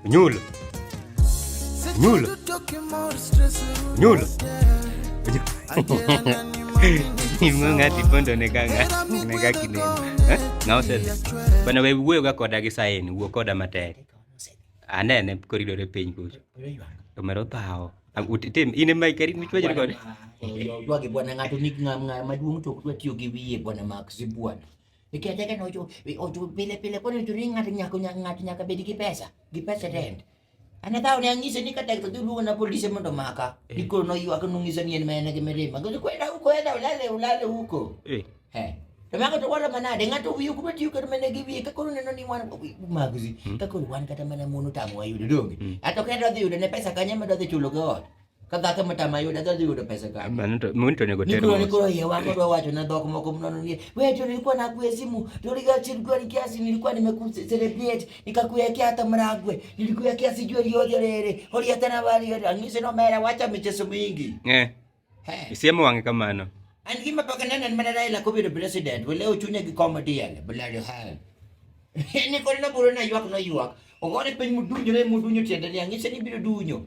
Ñuul ñuul ñuul ng'ati pondo ne ka ne ka kineno eh? ng'a osedhi bana we wuoyo ga koda gi saini wuo koda matek anene koridore piny kucho omero thawo tim in ema ikeri michwajri kode ywage bwana ng'ato ni ng'ama maduong' to ok dwa tiyo gi wiye bwana mak zibwana Nikech eka nocho ocho pile pile kono to ni ng'ato nyako ng'ato nyaka bed gi pesa, gi pesa rent. Ana tao ne ang'ise ni kata to dulu na polisi mondo maka. Eh. Diko no ywak no ng'ise ni en mena gi mirima. Gozo kwenda huko enda ulale ulale huko. Eh. Eh. To mago to wala manade ng'ato wiyo kuma tiyo kata mana gi wiye kakoro neno ni wan magzi. Hmm. Kakoro wan kata mana mono tamo wayudo donge. Hmm. Ato kendo dhi yudo ne pesa kanye medo dhi chulo go ot. Kata ka mata ma yuda dhi yudo pesa ka. Mano to mun to nego tero. Niko niko yeye wangu ndo wacho na dhok moko mnono ni. Wewe tu nilikuwa na kuwe simu, tuliga chini kwa kiasi nilikuwa nimekucelebrate, nikakuwekea hata mragwe, nilikuwekea sijui yote lele. Holi hata na wali yote. Angise no mera wacha michezo mingi. Eh. Hey. Isiemo wange kamano. An gima paka nene ni manara ila kubi president, wale uchunya gi comedy yale, bulali hal. Ni kolina buruna yuak no yuak. Ogore piny mudunyo ne mudunyo tiende ni angise ni biro dunyo.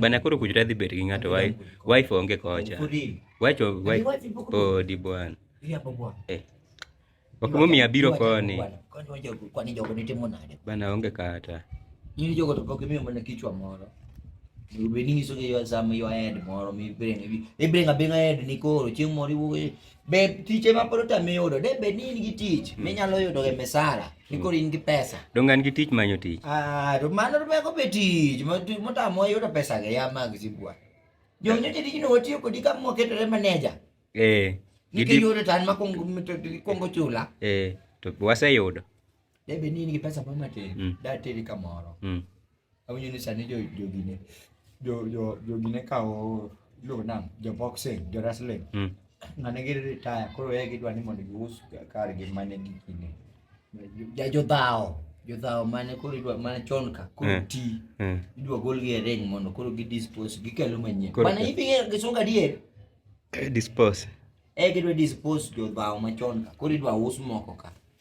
Bana koro kujra dhi bet gi ng'ato wife onge kocha. Wacho wife odi bwana. Eh. Ok momiyo abiro koni. Kwani jogo nitimo nade? Bana onge kata. Nyiri jogo to pok imiyo mana kichwa moro. Bedi nyiso gi yo sama yo head moro mi bring. Ibring abinga head ni koro chieng' moro iwuok Be tich ema pod otami yudo? De be ni in gi tich hmm. minyalo yudo e misala ni hmm. koro in gi pesa? Donge an gi tich manyo tich? Ah, to mano to meko be tich motamo yudo pesa ga ya mag sibwa. Jo nyote tijno watiyo kodi ka moketore maneja. Eh. Nikech yudo tan ma kongo chula. Eh, to waseyudo. Debe ni nigi pesa moro matin, mm. dateri kamoro. Mm. Awinjo ni sani jo jogine jo jo jogine kawo iluongo nang'o jo boxing jo wrestling. Mm. Ng'ane gi retire koro e gidwa ni mondo gius kar gi mane gi kinde. Ja jodhawo jodhawo mane koro idwa mane chon ka koro mm. ti mm. idwa golgi e ring mondo koro gi dispose gikelo manyien. Mana ibi gisunga dier. Eh, dispose. E gidwa dispose jodhawo machon ka koro idwa us moko ka.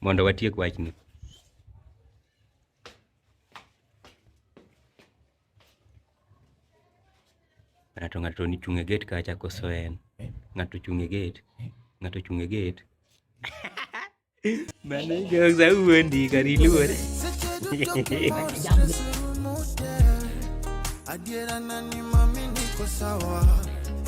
Mondo watiek wachni. Ng'ato ng'ato ni chung' e gate kacha koso en. Ng'ato chung' e gate. Ng'ato chung' e gate. Mano jokes awuondi kar iluore. Adiera nani mami niko sawa